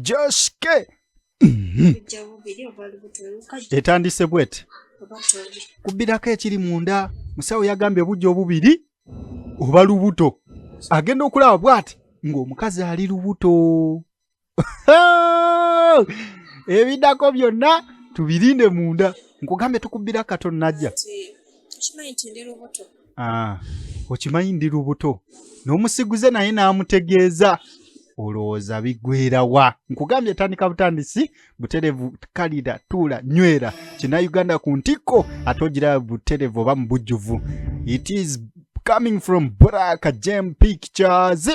joske mhm. etandise bwete kubbirako ekiri munda musawo yagambye obujja obubiri oba lubuto agenda okulaba bwati ng'omukazi ali lubuto ebiddako byonna tubirinde munda nkugambye tukubbira katonajja ah, okimanyi ndi lubuto n'omusiguze naye n'amutegeeza olowooza bigwera wa nkugambye tandika butandisi buterevu kalira tuula nywera kina uganda ku ntikko ate ogira buterevu oba mu bujjuvu it is coming from black jam pictures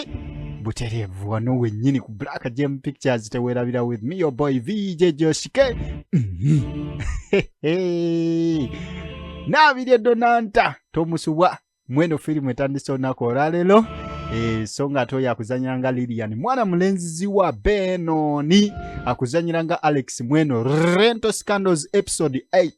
buterevu wano wennyini ku black jam pictures tewerabira with me your boy vj joshike mm -hmm. nabirye donanta tomusubwa mweno firimu etandise olunaku olwaleero eh, so nga ate oyo akuzanyira nga lilian mwana mulenzizi wa benoni akuzanyira nga alex mweno rento scandals episode 8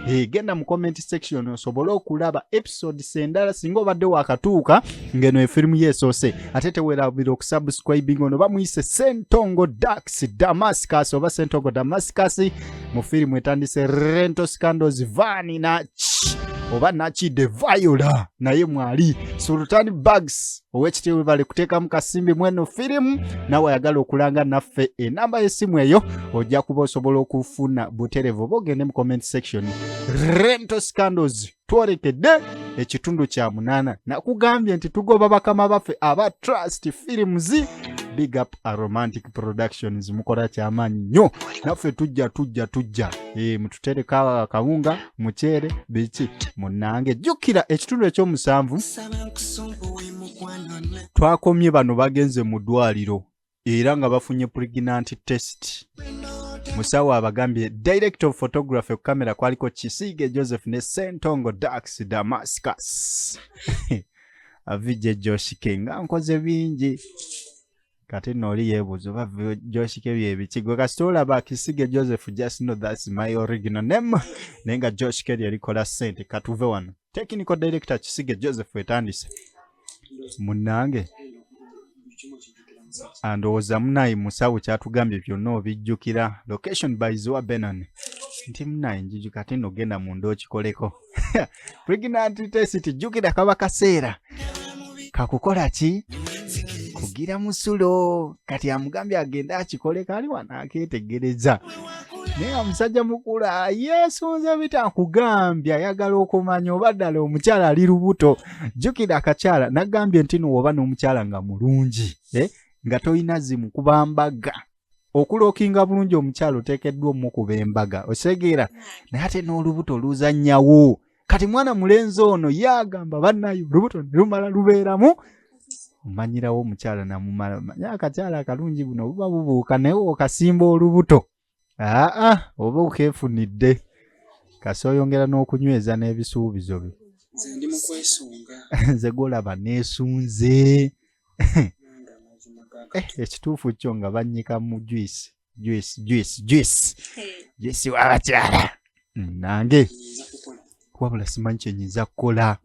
eh, genda mu comment section osobole okulaba episodes endala singa obadde wakatuuka ngeno efirimu yesoose ate tewerabira okusubscribing ono bamuyise sentongo dax damascus oba sentongo damascus mu firimu etandise rento scandos vani naki oba nakide viola naye mwali sultan bags owekitiibwe bali kuteekamu kasimbi mweno firimu nawe ayagala okulanga naffe enamba yesimu eyo ojja kuba osobola okufuna buterevu oba ogende mu comment section rento scandos twolekedde ekitundu kya munaana nakugambye nti tugoba bakama baffe aba trust films big up a romantic productions mukola kyamaanyi nnyo naffe tujja tujja tujja e, mututereka akawunga muceere biki munange jjukira ekitundu ekyomusanvu twakomye bano bagenze mu ddwaliro era nga bafunye pregnant test musawo abagambye direct of photography ku kamera kwaliko kisiige joseph ne sentongo dax damascus avije joshike nga nkoze bingi kati no oli yebuuza oba joshike byebikigo kasita olaba kisige joseph just know thats my original name naye nga joshike lyerikola sente katuve wano Technical Director Kisige Joseph etandise munnange andowooza munayi musawo kyatugambye byonna obijjukira location by ziwa benan nti munayi njuju kati nogenda munda okikoleko pregnant test jjukira kaba kaseera kakukola ki kugira musulo kati amugambye agende akikole kali wano aketegereza naye nga musajja mukula yeesunze bita nkugambye ayagala okumanya oba ddala omukyala ali lubuto jjukira akakyala nagambye nti nowoba n'omukyala nga mulungi eh, nga tolina zimu kubambaga okulookinga bulungi omukyalo oteekeddwa omukuba embaga osegeera naye ate n'olubuto luzannyawo kati mwana mulenzi ono ye agamba bannaye olubuto ne lumala lubeeramu omanyirawo omukyala namumala omanya akakyala akalungi buno buba bubuuka naye okasimba olubuto aa oba okeefunidde kasi oyongera n'okunyweza n'ebisuubizo byo nze golaba neesunze eh, ekituufu kyo nga bannyika mu juice juice juice juice juice wabakyala mm, nange wabula simanyi kyenyinza kukola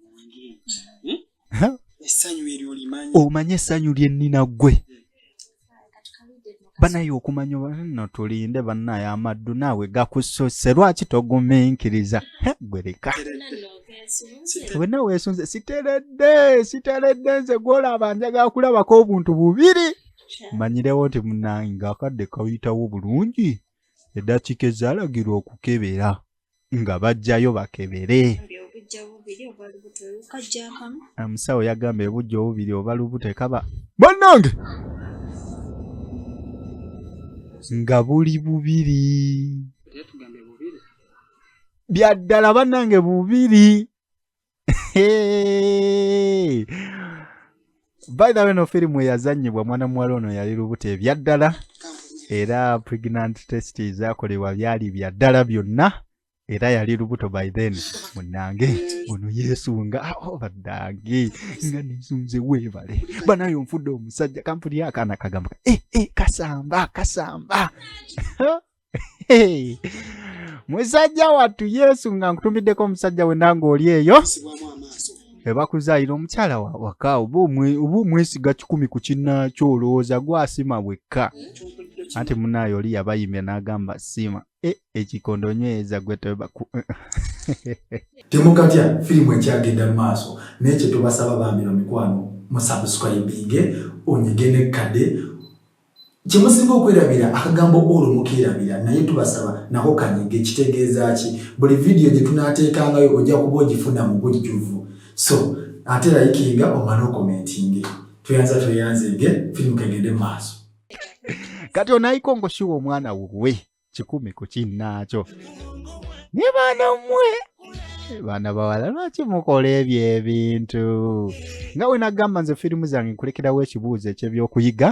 hmm? omanye essanyu lye nnina ggwe banaye okumanya no tulinde banaye amaddu naawe gakusose lwaki toguminkiriza gwereka wena wesunze siteredde siteredde nze gwolaba njaga kulabako obuntu bubiri manyirewo nti munange ngaakadde kawitawo bulungi eddakiika ezalagirwa okukebera nga bajjayo bakebere omusawo yagamba ebujja obubiri oba lubuto ekaba bannange nga buli bubiri byaddala bannange bubiri by the way no firimu eyazanyibwa mwana muwala ono yali lubuto ebyaddala era pregnant test ezakolebwa byali byaddala byonna era yali lubuto by then munange ono yesunga obadange ah, oh, nga nesunze webale banaye onfudde omusajja kampuni akaana kagamba e eh, e eh, kasamba kasamba musajja wattu yesu nga nkutumiddeko omusajja we nange oli eyo ebakuzaayira omukyala waka oba omwesiga kikumi ku kinnaakyo olowooza gwasima bwekka anti munaayo oli yabayimya n'agamba siima e, ekikondo nyweza gwe tebaku temukatya firimu ekyagenda mu maaso naye kyetubasaba bambira mikwano musabusukayibinge onyige nekkade kyemusinga okwerabira akagambo olwo mukeerabira naye tubasaba nako kanyige kitegeeza ki buli vidiyo gye tunaateekangayo ojja kuba ogifuna mu bujjuvu so ate layikinga omale okomentinge tweyanza tweyanzege firimu kegende mu maaso kati onayikongo siwa omwana wuwe kikumi ku kinnaakyo ne baana mmwe baana bawala lwaki mukola ebyo ebintu nga we nagamba nze firimu zange nkulekerawo ekibuuzo ekyebyokuyiga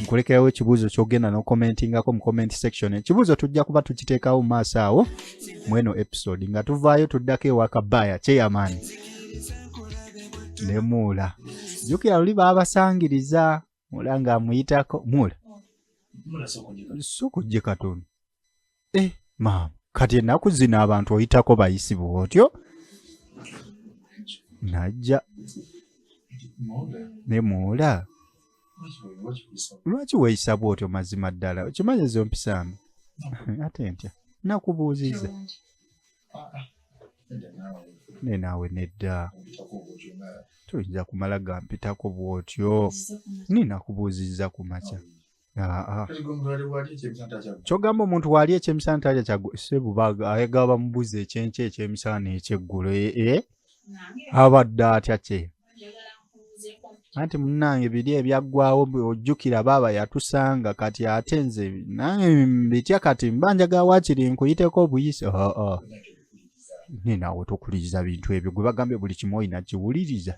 nkulekerawo ekibuuzo kyogenda nokomentingako mu comment section ekibuuzo tujja kuba tukiteekawo mu maaso awo mu eno episode nga tuvaayo tuddako ewakabaaya kyeyamaani nemuula jukira luli baabasangiriza mula nga amuyitako mula si okujje katono e eh, maama kati ennaku zino abantu oyitako bayisi bwotyo najja ne mula lwaki weeyisa bwotyo mazima ddala okimanyi ezo mpisambi ate ntya nakubuuziza ne naawe nedda toyinza kumala gampitako bw'otyo nina kubuuzizza ku makya kyogamba omuntu waali ekyemisana talya kyasebubaga ayagaba mubuzi ekyenkya ekyemisana ekyeggulo ee eh, eh? abadde atya kye anti munange biri ebyaggwawo ojjukira baaba yatusanga kati ate nze nange bitya kati mba njaga wakiri nkuyiteko obuyise oo oh, oh. ninawe tokuliriza bintu ebyo gwe bagambye buli kimu olina kiwuliriza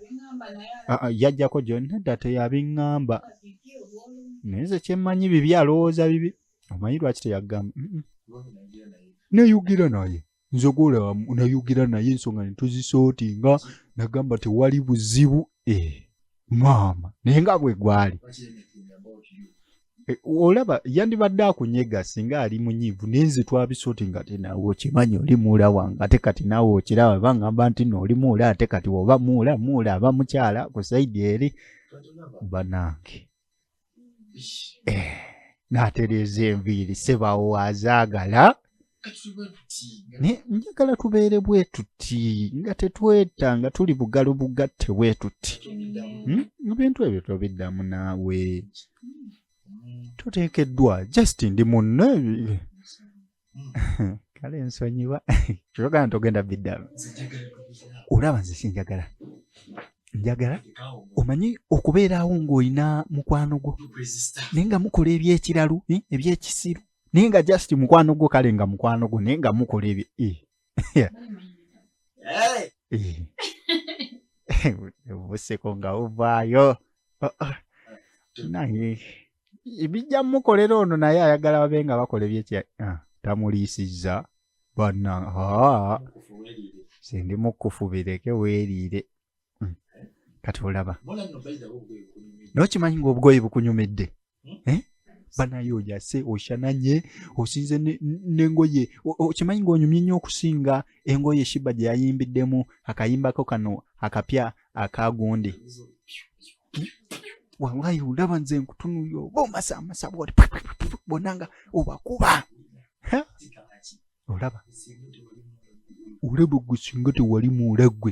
ah, ah, yajjako gyonna dda teyabiŋŋamba naye nze kyemmanyi bibi alowooza bibi omanyi lwaki teyagamba neyugira naye nzogola nayogera naye ensonga netuzisootinga nagamba tewali buzibu eh, maama naye nga bwe gwali eh, olaba yandibadde akunyega singa ali munyiivu naye nze twabisooti nga te nawe okimanyi oli muula wange ate kati nawe okiraba bangamba nti no oli muula ate kati oba muula muula aba mukyala ku saidi eri banange eh, n'atereeza enviiri sebawo azaagala njagala tubeere bwe tuti nga tetweta nga tuli bugalo bugatte bwe tuti hmm? ebintu ebyo tobiddamu naawe tuteekeddwa just ndi munne hmm. kale nsonyiwa kyogana togenda biddalu olaba nze sinjagala njagala omanyi okubeerawo ng'olina mukwano gwo naye nga mukola ebyekiralu eh, ebyekisiru naye nga just mukwano gwo kale nga mukwano gwo naye nga mukola ebye eh. yeah. Hey. buseko nga buvaayo oh, oh. naye ebijja mukolera ono naye ayagala babe nga bakola ebyekya ah, tamuliisizza banna sindi mukkufu bireke weeriire hmm. eh? kati olaba naye okimanyi ngaobugoye bukunyumidde hmm? eh? banaye ojase oshananye osinze nengoye okimanyi ngaonyumye nnyo okusinga engoye shiba gye yayimbiddemu akayimbako kano akapya akagundi wallahi olaba nze nkutunuyo oba omasamasa bwoli bona nga obakuba olaba olaba gwe singa tewali muula gwe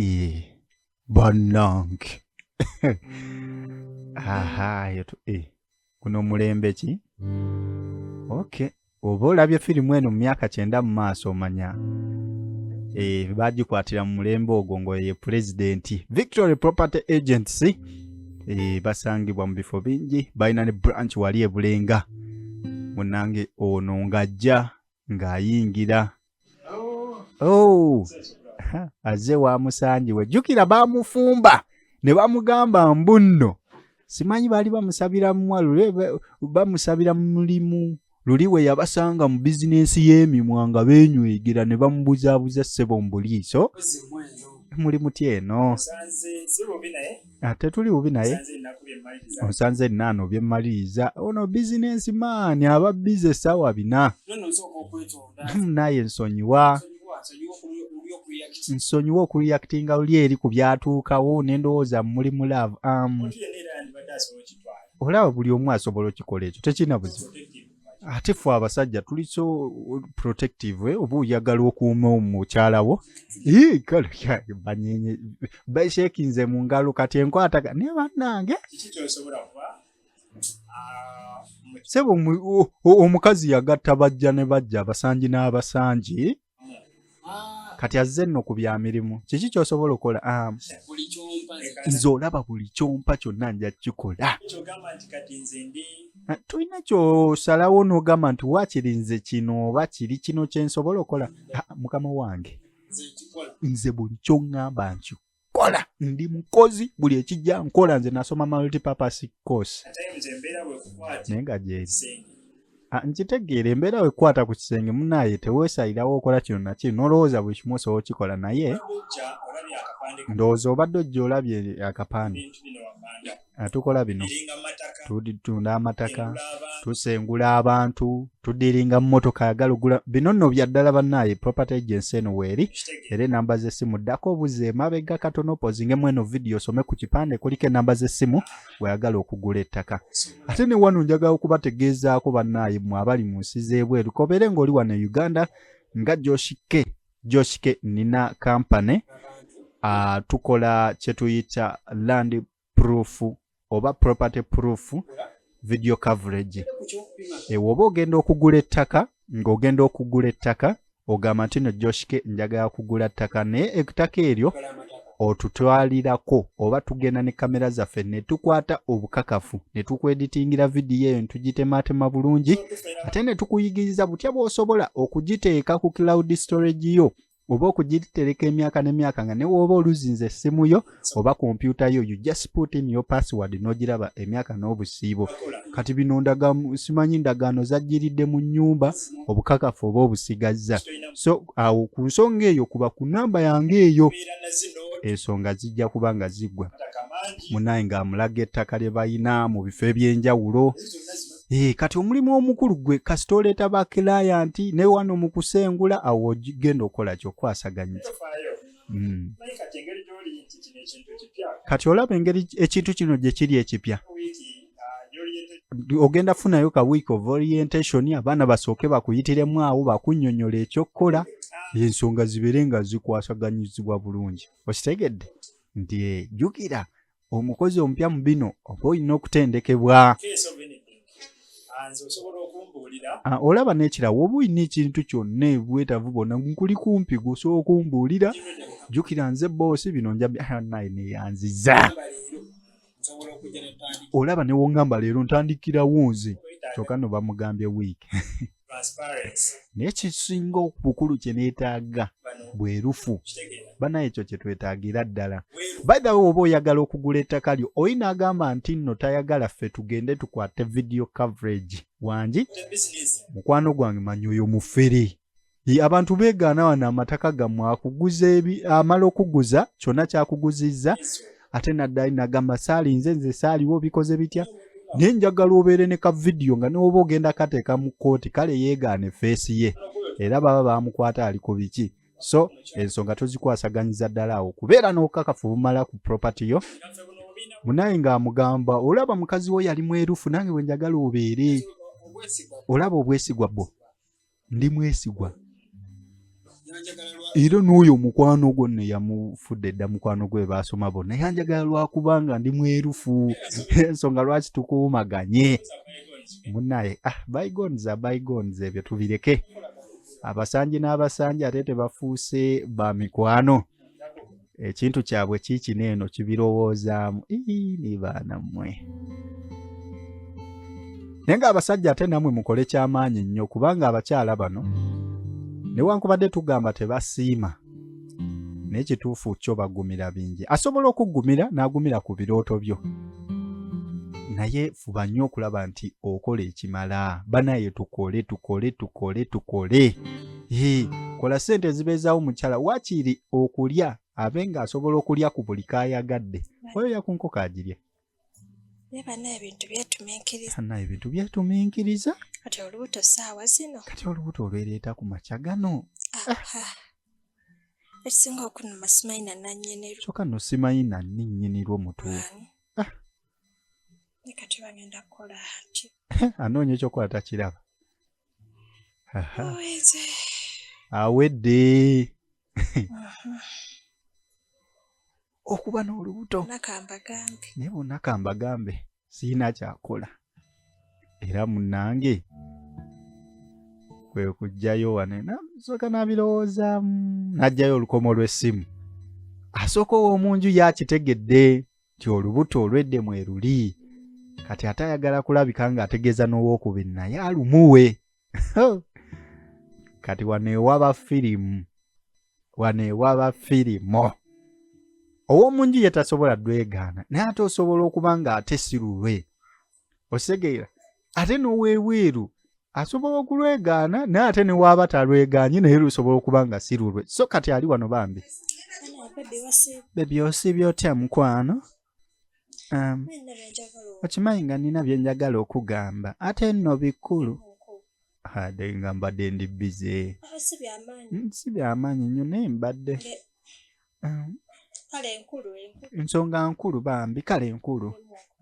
Ee, bannange aha eyo tu- eh, guno mulembe ki okay oba olabye firimu eno mu myaka kyenda mu maaso omanya eh, bagikwatira mu mulembe ogwo ng'oyo ye pulezidenti victory property agency eh, basangibwa mu bifo bingi balina ne branch wali e bulenga munange ono ng'ajja ng'ayingira oh. azze wamusangiwe jjukira bamufumba ne bamugamba mbunno simanyi baali bamusabira mumwalule bamusabira mulimu luli we yabasanga mu bizinensi y'emimwa nga benywegera ne bamubuzaabuza ssebo mu buliiso muli muti eno Sanze, Ah, tetuli bubi naye onsanze nnaana obyemmaliriza ono bizinensi maani aba bize essaawa bina hmm, naye nsonyiwa nsonyiwa okureactinga luli eri ku byatuukawo nendowooza muli mu laavu amu um, olaba buli omu asobola okikola ekyo tekirina buzibu ate fe abasajja tuli so protective eh, oba oyagala okuuma omukyala wo banyenye bashekinze mu ngalo kati enkwata naye bannange sebo omukazi yagatta bajja ne bajja abasanji n'abasanji kati azze nno ku bya mirimu kiki kyosobola okukola am nze olaba buli kyompa kyonna nja kukikola ah, tulina kyosalawo n'ogamba nti waakiri nze kino oba kiri kino kyensobola okukola ah, mukama wange nze buli kyoŋŋamba nkyo kola ndi mukozi buli ekijja nkola nze nasoma multipurpose course naye nga gyeri ah, nkitegeera embeera wekwata ku kisenge munaye tewesalirawo okola kino nakiri nolowooza buli kimu osobola okikola naye ndowooza obadde ojja olabye akapande atukola bino tutunda amataka tusengula abantu tudiringa mumotoka yagala ogula bino nno byaddala bannaaye property agency eno weeri era enamba z'essimu ddako obuze emabega katono opozingemu eno vidiyo osome ku kipande kuliko enamba z'essimu weyagala okugula ettaka ate ne wano njagala okubategeezaako bannaaye mwe abali mu nsi z'ebweru kobeere ng'oli wano e uganda nga joshike joshike nina company uh, tukola kyetuyita land proof oba property proof video coverage ewoba eh, ogenda okugula ettaka ng'ogenda okugula ettaka ogamba nti no joshike njagala kugula ttaka naye ettaka eryo otutwalirako oba tugenda ne kamera zaffe ne tukwata obukakafu ne tukweditingira vidiyo eyo netugitemaatema bulungi ate ne tukuyigiriza butya bw'osobola okugiteeka ku cloud storage yo oba okugitereka emyaka n'emyaka nga newooba oluzinza essimu yo oba kompyuta yo you just put in your password n'ogiraba emyaka n'obusiibo kati bino ndagamu simanyi ndagaano zajjiridde mu nnyumba obukakafu oba obusigazza so awo ku nsonga eyo kuba ku namba yange eyo ensonga zijja kuba nga ziggwa munaye ng'amulaga ettaka lye balina mu bifo eby'enjawulo Ee, eh, kati omulimu omukulu gwe kasita oleeta bakilayanti ne wano mu kusengula awo ogenda okukola kyokwasaganyiza hmm. kati olaba engeri ekintu kino gye kiri ekipya ogenda funayo ka week of orientation abaana basooke bakuyitiremu awo bakunyonyola ekyokukola ensonga zibeere nga zikwasaganyizibwa bulungi okitegedde nti eh, jukira omukozi omupya mu bino oba olina okutendekebwa ah, olaba nekirawo oba olina ekintu kyonna ebwetavu bona nkuli kumpi gusobola okumbuulira jukira nze boosi bino njabi ah, naye neyanziza olaba newongamba leero ntandikirawo nze kyoka no bamugambye week naye kisinga obukulu kyenetaaga bwerufu banaye ekyo kyetwetaagira ddala baithawe oba oyagala okugula ettaka lyo oyi naagamba nti nno tayagala ffe tugende tukwate video coverage wangi mukwano gwange manyi oyo mufere abantu beegaana wano amataka gammwe akuguza amala okuguza kyonna kyakuguzizza ate naddali nagamba saalinze nze saaliwo bikoze bitya naye njagala obeere ne ka vidiyo nga newoba ogenda kateeka mu kkooti kale yeegaane feesi ye era baba bamukwata ali ku biki so ensonga tozikwasaganyiza ddala awo kubeera n'okakafu bumala ku propaty yo munaye ng'amugamba olaba mukazi wo yali mwerufu nange bwe njagala obeere olaba obwesigwa bwo ndi mwesigwa era n'oyo omukwano gwo ne yamufudde dda mukwano gwe baasoma bonna yanjagala lwakubanga ndi mwerufu ensonga lwaki tukuumaganye munaye ah bygons a bygons ebyo tubireke abasanje n'abasanje ate tebafuuse ba mikwano ekintu kyabwe kiikino eno kibirowoozaamu ii ni baana mmwe naye ng'abasajja ate namwe mukole ky'amaanyi nnyo kubanga abakyala bano newankubadde tugamba tebasiima naye kituufu kyo bagumira bingi asobola okugumira n'agumira ku birooto byo naye fuba nnyo okulaba nti okola ekimala banaye tukole tukole tukole tukole Hii, kola sente ezibeezaawo mukyala wakiiri okulya abe nga asobola okulya ku buli kaayagadde oyo yakunkoko agirya banaye ebintu byetuminkiriza banaye ebintu byetuminkiriza kati olubuto saawa zino kati olubuto olwereeta ku makya gano ekisinga okunuma simanyi nananyini kyoka no simanyi nani nyini lwo mutuufu ah. kati bagenda kukola nti anoonya ekyokukola takiraba awedde okuba n'olubuto naye bonna kambagambe sirina kyakola era munange kwe kujjayo wane nasooka nabirowoozaamu n'ajjayo olukomo lw'essimu asooka ow'omu nju yakitegedde nti olubuto olwedde mweruli kati ate ayagala kulabika nga ategeeza n'owokubiri naye alumuwe kati wano ewaba firimu wano ewaba firimu ow'omunju ye tasobola dwegaana naye ate osobola okuba nga ate si lulwe okitegeera ate n'owebweru asobola okulwegaana naye ate newaaba talwegaanye naye lusobola okuba nga si lulwe so kati ali wano bambi bebyosiibye otya mukwano um, okimanyi nga nina byenjagala okugamba ate nno bikulu ade nga mbadde ndi bize si byamaanyi nnyo naye mbadde um, ensonga nkulu bambi kale enkulu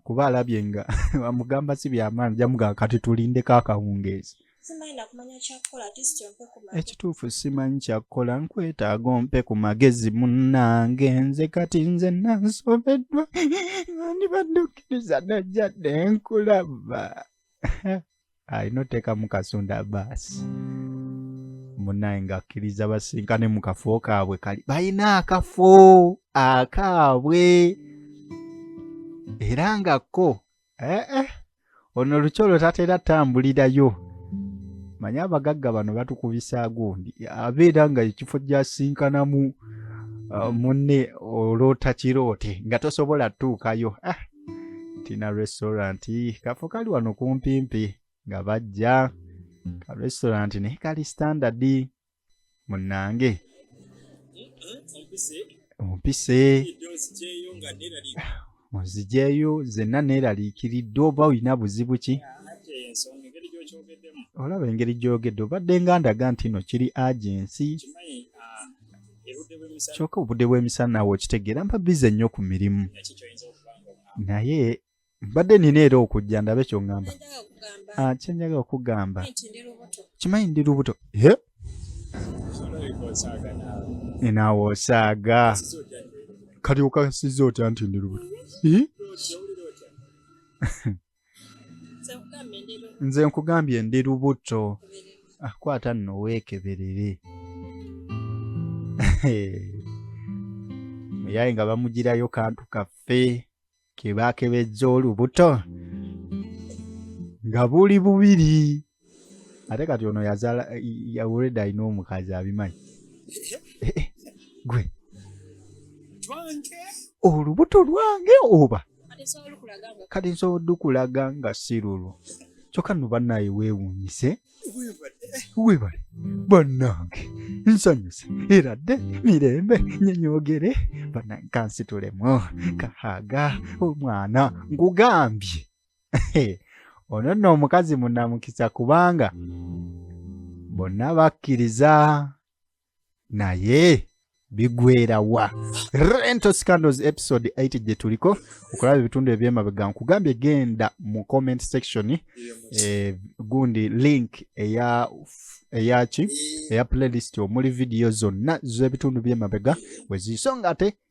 kuba alabye nga amugamba si byamaani jamugaa kati tulindeko akawungeezi ekituufu simanyi kyakukola nkwetaaga ompe ku magezi munnange nze kati nze nansobeddwa andibadde okkiriza najjadde nkulaba alina oteekamu kasonda baasi munaye ng'akkiriza basinkane mu kafo kaabwe kali balina akafo akaabwe era nga kko ee eh, eh, ono lukyolo tatera tambulirayo manye abagagga bano batukubisa gundi abeera nga ekifo gyasinkanamu uh, munne olootakiroote nga tosobola tutuukayo ah, tina restaurant kafo kali wano kumpimpi nga bajja ka restaurant naye kali standard munange ompise onzijeeyo zenna neeraliikiridde oba olina buzibu ki olaba engeri gyogedde obadde nga ndaga nti no kiri agensi kyoka obudde bw'emisana naawe okitegeera mba bize nnyo ku mirimu naye mbadde nina era okujja ndabe kyoŋamba ah, kyenjaga okugamba kimanyi ndi lubuto naawe osaaga kati okasiza otya nti ndi lubuto nze nkugambye ndi lubuto ah, kwata nno weekeberere muyaye nga bamugirayo kantu kaffe kebaakebejja olubuto nga buli bubiri ate kati ono yazala yawureda alina omukazi abimanyi eh, eh, gwe olubuto lwange oba kati nsobola dukulaga nga si lulwo kyokka no bannaye weewuunyise webale bannange nsanyuse era dde mirembe nyenyogere bannange kansitulemu kahaga omwana nkugambye ono nno omukazi munamukisa kubanga bonna bakkiriza naye bigwerawa rento scandals episode 8 gye tuliko okulaba ebitundu ebyemabega nkugambye genda mu comment section eh, gundi link eya eyaki eya playlist omuli vidiyo zonna z'ebitundu byemabega weziiso nga ate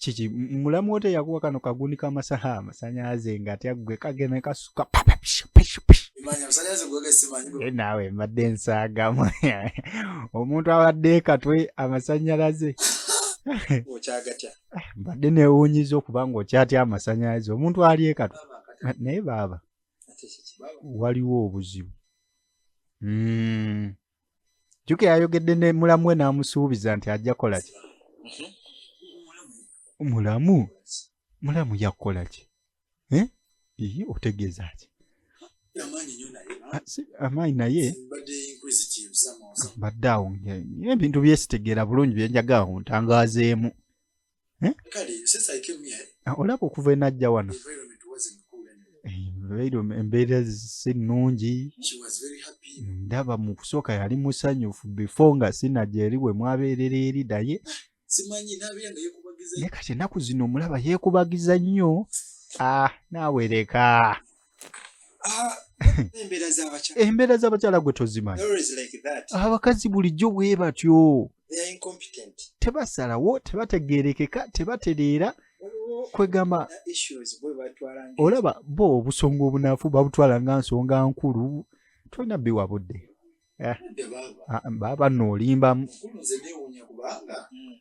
kiki mulamu wote yakuwa kano kagundi kamasala amasanyalaze nga atya gwe kageme kasuka eh, naawe mbadde ensaagamu omuntu abadde katwe amasanyalaze ah, mbadde newunyiza okuba nga okyatya amasanyalaze omuntu ali ekatwe naye baaba waliwo obuzibu hmm. jjuke yayogedde ne mulamu we n'amusuubiza nti ajja kukola ki mhm. mulamu mulamu yakukola ki eh? ii otegeeza ki ah, amaanyi naye mbadde awo ebintu byesitegeera bulungi byenjaga awo ntangazeemu eh? ah, olaba okuva enajja wano embeera si nnungi ndaba mu kusooka yali musanyufu bifo nga sinaja eri we mwabeerera eri naye naye kati ennaku zino omulaba yeekubagiza nnyo ah, naawereka ah, embeera z'abakyala gwe tozimanyi abakazi bulijjo bwe batyo tebasalawo tebategeerekeka tebatereera kwegamba olaba bo obusonga obunafu babutwala nga nsonga nkulu tolina biwa budde eh. ah, baba no olimbamu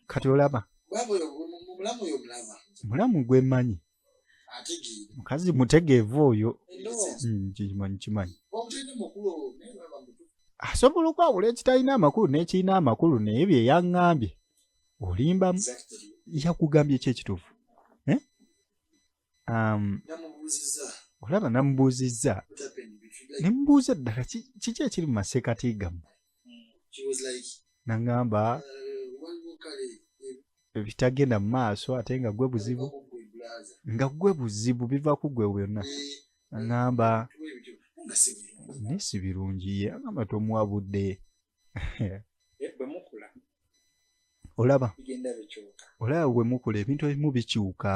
kati olaba mulamu gwemanyi mukazi mutegeevu oyo nkimanyi mm, kimanyi asobola okwawula ekitalina amakulu n'ekirina amakulu naye bye yaŋŋambye olimba yakugambye ekyekituufu eh? um, olaba namubuuzizza nemubuuza ddala kiki ekiri mu maseekati gammwe she was like nangamba uh, waliwo kale ebitagenda mu maaso ate nga gwe buzibu nga gwe buzibu biva ku gwe byonna aŋamba naye si birungi ye aŋamba tomuwa budde olaba olaba wemukula ebintu ebimu bikyuka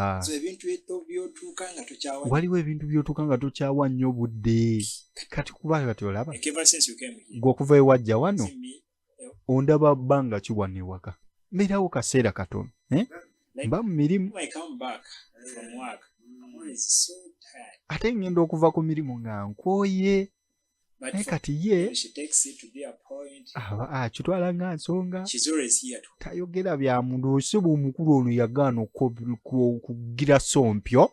waliwo ebintu byotuuka nga tokyawa nnyo obudde kati kuba kati olaba gwe okuva ewajja wano eh, ondaba bbanga kiwa newaka mbeerawo kaseera katono eh? mba mu mirimu ate ngenda okuva ku mirimu nga nkwoye naye kati ye aba akitwala nga nsonga tayogera bya muntu ose bwomukulu ono yagaana okugira sompyo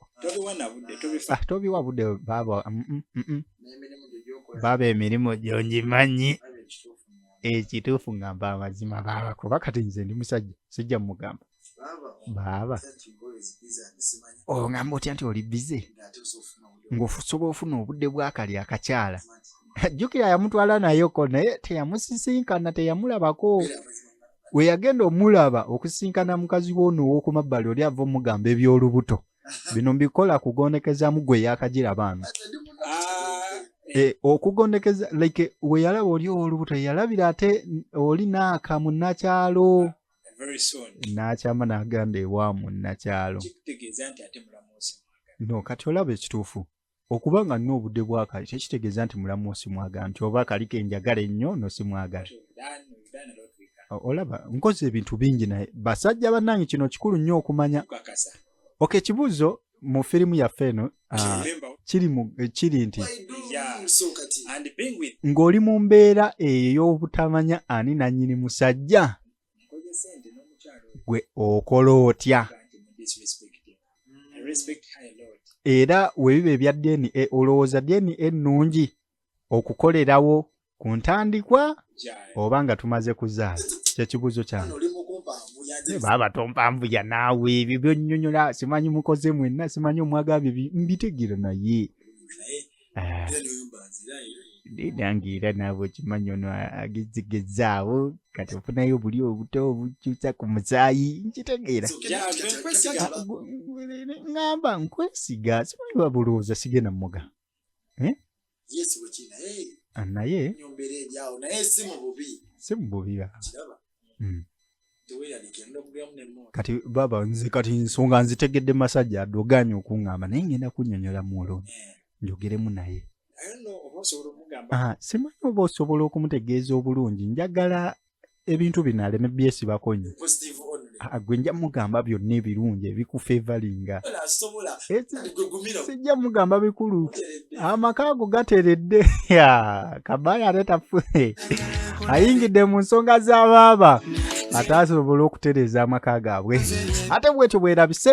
ah, tobiwa budde baaba mm, mm, mm, baaba emirimu gyongimanyi ekituufu ngamba amazima baaba kuba kati nze ndi musajja sijja mugamba baaba ongamba otya nti oli bize ngaosobola ofuna obudde bwakali akakyala jjukira yamutwala nayoko naye teyamusisinkana teyamulabako weyagenda omulaba okusisinkana mukazi woono ow'oku mabbali oli ava omugamba eby'olubuto bino mbikola kugondekezamu gwe yakagira baana eh, okugondekeza like weyalaba oli ow'olubuto yalabira ate oli naaka munakyalo n'akyama n'agamba ewa munnakyalo no kati olaba ekituufu okuba nga nna obudde bwakali tekitegeeza nti mulamu simwagala nti oba akaliko enjagala ennyo no simwagala olaba nkozi ebintu bingi naye basajja bannange kino kikulu nnyo okumanya ok ekibuuzo mu firimu yaffe eno ah, eh, kiri nti ng'oli mu mbeera eyo ey'obutamanya ani nannyini musajja gwe okola otya era webiba ebya dna olowooza dna ennungi okukolerawo ku ntandikwa oba nga tumaze kuzaala kyekibuuzo kyange baba tompambuya naawe ebyo byonyonyola simanyi mukoze mwenna simanyi omwagambye mbitegera naye ah. nange era naawe okimanyi ono agezigezaawo kati ofunayo obuli obuto obukyusa ku musaayi nkitegeera ah, ngamba nkwesiga simanyi babulowooza sigenda muga eh? ah, naye si mububi hmm. kati baba nze kati nsonga nzitegedde masajja adoganye okuŋŋamba naye ngenda kunyonyola muolo eh. njogeremu naye ah, simanyi oba osobola okumutegeeza obulungi njagala ebintu bino aleme byesibako nyo gwe nja mugamba byonna ebirungi ebikufevalinga sijja mugamba bikulu amaka ago gateredde kabaya atetafune ayingidde mu nsonga za baaba ataasobole okutereeza amaka gaabwe ate bwetyo bwerabise